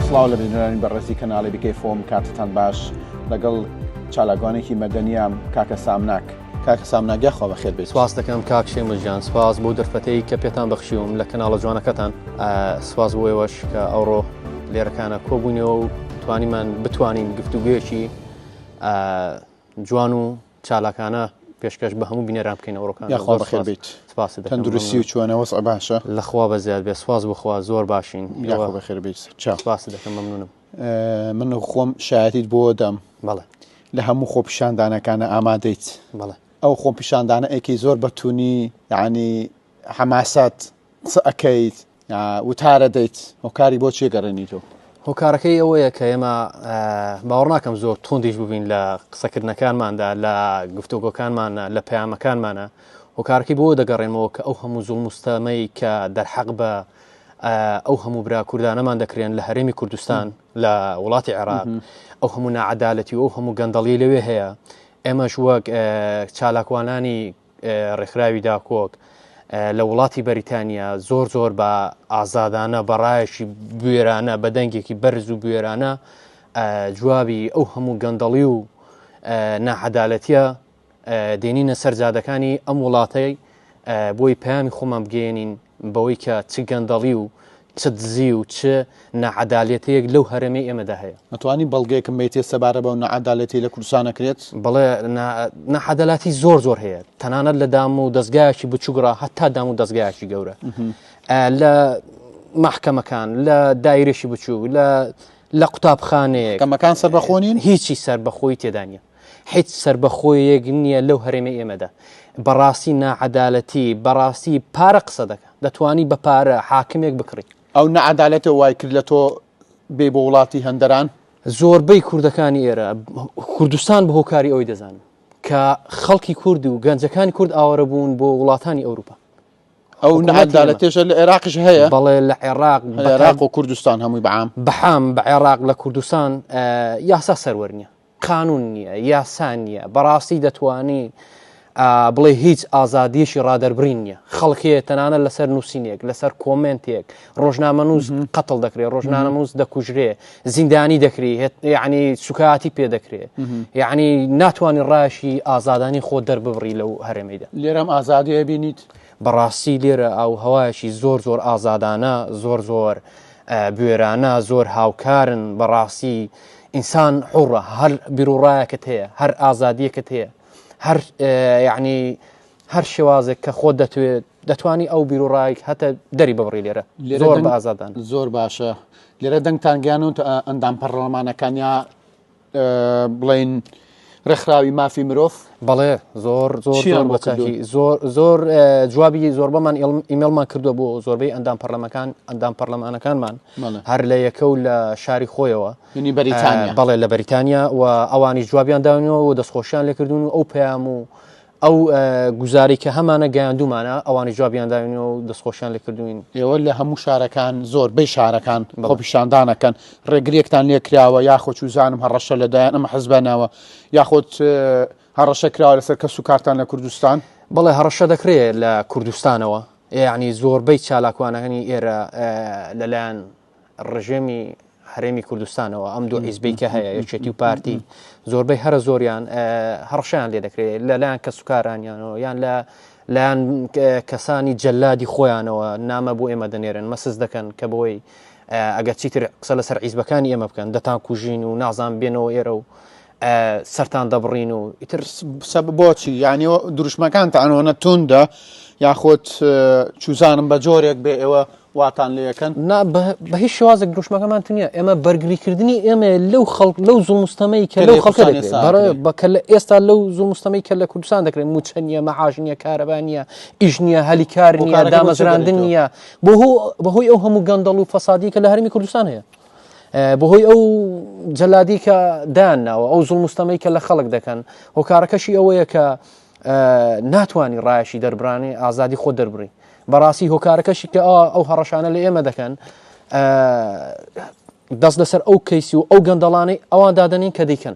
سڵاو لە بینەرانی بەڕێزی کەناڵی بکەی فۆم کاتتان باش لەگەڵ چالاکوانێکی مەدەنیام کاکە سامناک کاکە سامناگە خۆ بەخێر بێت سواز دەکەم کاک شێمە ژیان سپاس بۆ دەرفەتەی کە پێتان بەخشیوم لە کەناڵە جوانەکەتان سواز بۆیەوەش کە ئەوڕۆ لێرەکانە کۆبوونەوە و توانیمان بتوانین گفتوگوێکی جوان و چالاکانە پێشکەش بە هەموو بینەران بکەین ئەوڕۆکان یاخوا بەخێر بیت سپاس تەندروستی و چۆنە وەس باشە لەخوا بە زیاد بێ سواز بخوا زۆر باشین یاخوا بەخێر بیت سپاس دەکەم مەمنونم من و خۆم شایەتیت بۆ دەم بەڵێ لە هەموو خۆ پیشاندانەکانە ئامادەیت بەڵێ ئەو خۆ پیشاندانە ئەیکەی زۆر بەتونی یعنی حەماسات قسە ئەکەیت وتارە دەیت هۆکاری بۆ چێ گەڕێنی تۆ هۆکارەکەی ئەوەیە کە ئێمە باوەڕناکەم زۆر توندیش ببین لە قسەکردنەکانماندا لە گفتۆگۆکانمانە لە پەیامەکانمانە هۆکارەکەی بۆ دەگەڕێنەوە کە ئەو هەموو زوڵ مستەمەی کە دەرحەق بە ئەو هەموو برا کوردانەمان دەکرێن لە هەرێمی کوردستان لە وڵاتی عێراق ئەو هەموو نەعادالەتی و ئەو هەموو گەندەڵی لەوێ هەیە ئێمەش وەک چالاکوانانی ڕێکخراوی داکۆک لە وڵاتی بەریتانیا زۆر زۆر بە ئازادانە بەڕایەکی بوێرانە بە دەنگێکی بەرز و بوێرانە جوابی ئەو هەموو گەندەڵی و ناحەدالەتە دێنینە سەرجادەکانی ئەم وڵاتەی بۆی پامی خۆمان بگەێنین بەوەی کە چ گەندەڵی و چ دزی و چ ناعەدالەتیەک لەو هەرێمەی ئێمەدا هەیە. ئەتوانی بەڵگەیەکم بەیتێ سەبارە بەو ناعەدالەتی لە کوردستان ئەکرێت؟ بەڵێ ناعەدالاتی زۆر زۆر هەیە تەنانەت لە دام و دەستگایەکی بچووگڕا هەتا دام و دەستگایەکی گەورە لە محکەمەکان لە دایرێکی بچوو لە لە قوتابخانەیە کەمەکان سەر بەخۆنین هیچی سەر بەخۆی تێدانە هیچ سەربەخۆیەک نیە لەو هەرێمەی ئێمەدا بەڕاستی ناعەدالەتی بەڕاستی پارە قسە دەکا دەتوانی بە پارە حاکمێک بکڕی. ئەو نەعەدالەتە وای کرد لە تۆ بێی بۆ وڵاتی هەندەران؟ زۆربەی کوردەکانی ئێرە کوردستان بە هۆکاری ئەوەی دەزانن کە خەڵکی کورد و گەنجەکانی کورد ئاوارە بوون بۆ وڵاتانی ئەوروپا ئەو نەعەدالەتێشە لە عێراقش هەیە بەڵێ لە عێراق لە عێراق و کوردستان هەمووی بەعام بەحام بە عێراق لە کوردستان یاسا سەروەر نیە قانون نیە یاسا نیە بەڕاستی دەتوانی بڵێ هیچ ئازادیەکی ڕادەربرین نیە خەڵکەیە تەنانە لەسەر نووسینێک لەسەر کۆمنتێک ڕۆژنامە نووز قەتڵ دەکرێت ڕۆژنامە نووز دەکوژرێ زیندانی دەکری یعنی سوکاتی پێ دەکرێت یعنی ناتوانانی ڕاشی ئازادانی خۆ دەرببڕی لەو هەرێمیدا لێرەم ئازادیە بینیت بەڕاستی لێرە ئاووهەوایەکی زۆر زۆر ئازادانە زۆر زۆر بوێرانە زۆر هاوکارن بەڕاستی ئینسان حوڕە هەر بیرڕایەکەت هەیە هەر ئازادیەکەت هەیە هەر یعنی هەر شێوازێک کە خۆ دەتوێت دەتوانی ئەو بیرڕایک هەتە دەری ببڕی لێرە زۆر بە ئازادان زۆر باشە لێرە دەنگتان گیانوت ئەندام پەرلەمانەکانیا بڵین ڕێکخراوی مافی مرۆڤ بەڵێ زۆر زۆر زۆر زۆر جوابی زۆر بەمان ئیمەڵمان کردو بۆ زۆربەی ئەندام پەرلەمەکان ئەندام پەرلەمانەکانمان هەر لە یەکە و لە شاری خۆیەوە ینی بەریتانیا بەڵێ لە بەریتانیا و ئەوانی جوابیان داونەوە و دەستخۆشیان لێکردون و ئەو پەیام و ئەو گوزاری کە هەمانە گەیاندومانە ئەوانی جوابیان داوینەوە و دەستخۆشیان لەکردوین ئێوە لە هەموو شارەکان زۆر بەی شارەکان بەڵ پیشاندانەکەن ڕێگرێکتان لێکراوە یاخۆ چوزانم هەڕەشە لەدایان ئەمە حەزبانەوە یاخۆت هەڕەشە کراوە لەسەر کەس و کارتان لە کوردستان بەڵێ هەڕەشە دەکرێت لە کوردستانەوە یعنی زۆربەی چالاکوانەکەنی ئێرە لەلایەن ڕژێمی هەرێمی کوردستانەوە ئەم دوو ئیزبی کە هەیە یەکێتی و پارتی زۆربەی هەرە زۆریان هەڕشیان لێ دەکرێت لەلایەن کە سوکارانیانەوە یان لە لایەن کەسانی جەلادی خۆیانەوە نامە بۆ ئێمە دەنێرن مەسز دەکەن کە بۆی ئەگەر چیتر قسە لەسەر عیزبەکانی ئێمە بکەن دەتان کوژین و نازان بێنەوە ئێرە و سەران دەبڕین و ئیتر بۆچی یانی دروشمەکان تاانەوەە توندە یاخۆت چوزانم بە جۆرێک بێ ئێوە واتان لەکەن نا بە هیچ شوازێک دروشمەکەمان تنیە ئێمە بەرگریکردنی ئێمە لەو خەڵک لەو زومستەمەی کە لەو خەڵکە بەکە لە ئێستا لەو زومستەمەی کە لە کوردستان دەکرێت موچەنیە مەعاژنیە کارەبانە ئیژنیە هەلیکارنیە دامەزراندن نیە بۆ بەهۆی ئەو هەموو گەندەڵ و فەسادی کە لە هەرمی کوردستان هەیە بەهۆی ئەو جەلادی کە دایان ناوە ئەو زوڵ مستەمەی کە لە خەڵک دەکەن هۆکارەکەشی ئەوەیە کە ناتوانانی ڕایشی دەربرانێ ئازادی خۆ دەربڕی بەڕاستی هۆکارەکەشی کە ئەو هەڕەشانە لە ئێمە دەکەن دەست لەسەر ئەو کەیسی و ئەو گەندەڵانەی ئەوان دادنین کە دیکەن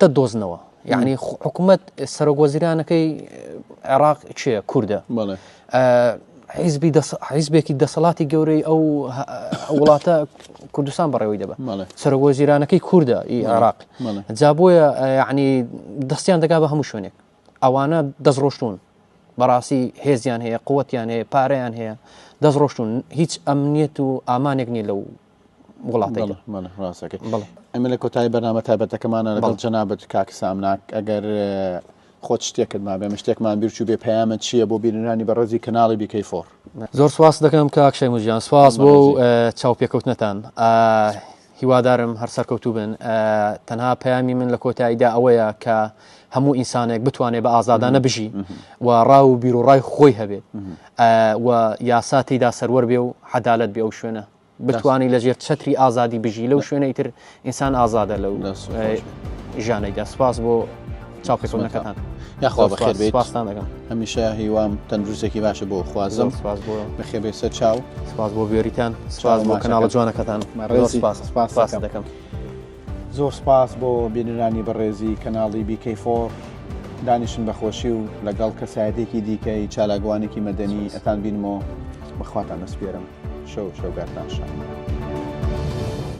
دە دۆزنەوە یعنی حکوومەت سەرۆک وەزیرانەکەی عێراق چێ کووردە حیزبی حیزبێکی دەسەڵاتی گەورەی ئەو وڵاتە کوردستان بەڕێوەی دەبە سەرۆک وەزیرانەکەی کووردە ئی عێراق جابۆیە یعنی دەستیان دەگا بە هەموو شوێنێک ئەوانە دەستڕۆشتون بەڕاستی هێزیان هەیە قوتیان هەیە پارەیان هەیە دەستڕۆشتون هیچ ئەمنیەت و ئامانێک نیە لەو وڵاتەکە ئەمە لە کۆتایی بەنامە تابەتەکەمانە لەگەڵ جەنابەت کاک سامناک ئەگەر خۆت شتێکت ما بێمە شتێکمان بیرچوو بێ پەیامە چییە بۆ بینرانی بەڕێزی کەناڵی بیکەی فۆر زۆر سواس دەکەم کاکشای مژیان سواس بۆ چاو پێکەوتنەتان هیوادارم هەر سەرکەوتوو بن تەنها پەیامی من لە کۆتاییدا ئەوەیە کە هەموو ئینسانێک بتوانێت بە ئازادانە بژی و ڕاو و بیرۆڕای خۆی هەبێت و یاسا تێدا سەروەر بێ و حەدالت بێ ئەو شوێنە بتوانی لە ژێر چەتری ئازادی بژی لەو شوێنەی تر ئینسان ئازادە لەو ژانەیدا سپاس بۆ چاپێکەکەتان یاخوا بەخێر بێت پاستان دەگەم هەمیشە هیوام تەندروستێکی باشە بۆ خوازم سپاس بۆ بەخێبێ سەر چاو سپاس بۆ بێریتان سپاس بۆ کەناڵە جوانەکەتان ڕێزی پاس پاس دەکەم. زۆر سپاس بۆ بینەرانی بەڕێزی کەناڵی BK فۆر دانیشن بە خۆشی و لەگەڵ کەسایەتێکی دیکەی چالاکوانێکی مەدەنی ئەتان بینمەوە بەخواتان ئەسپێرم شەو شەوگارتان شاد.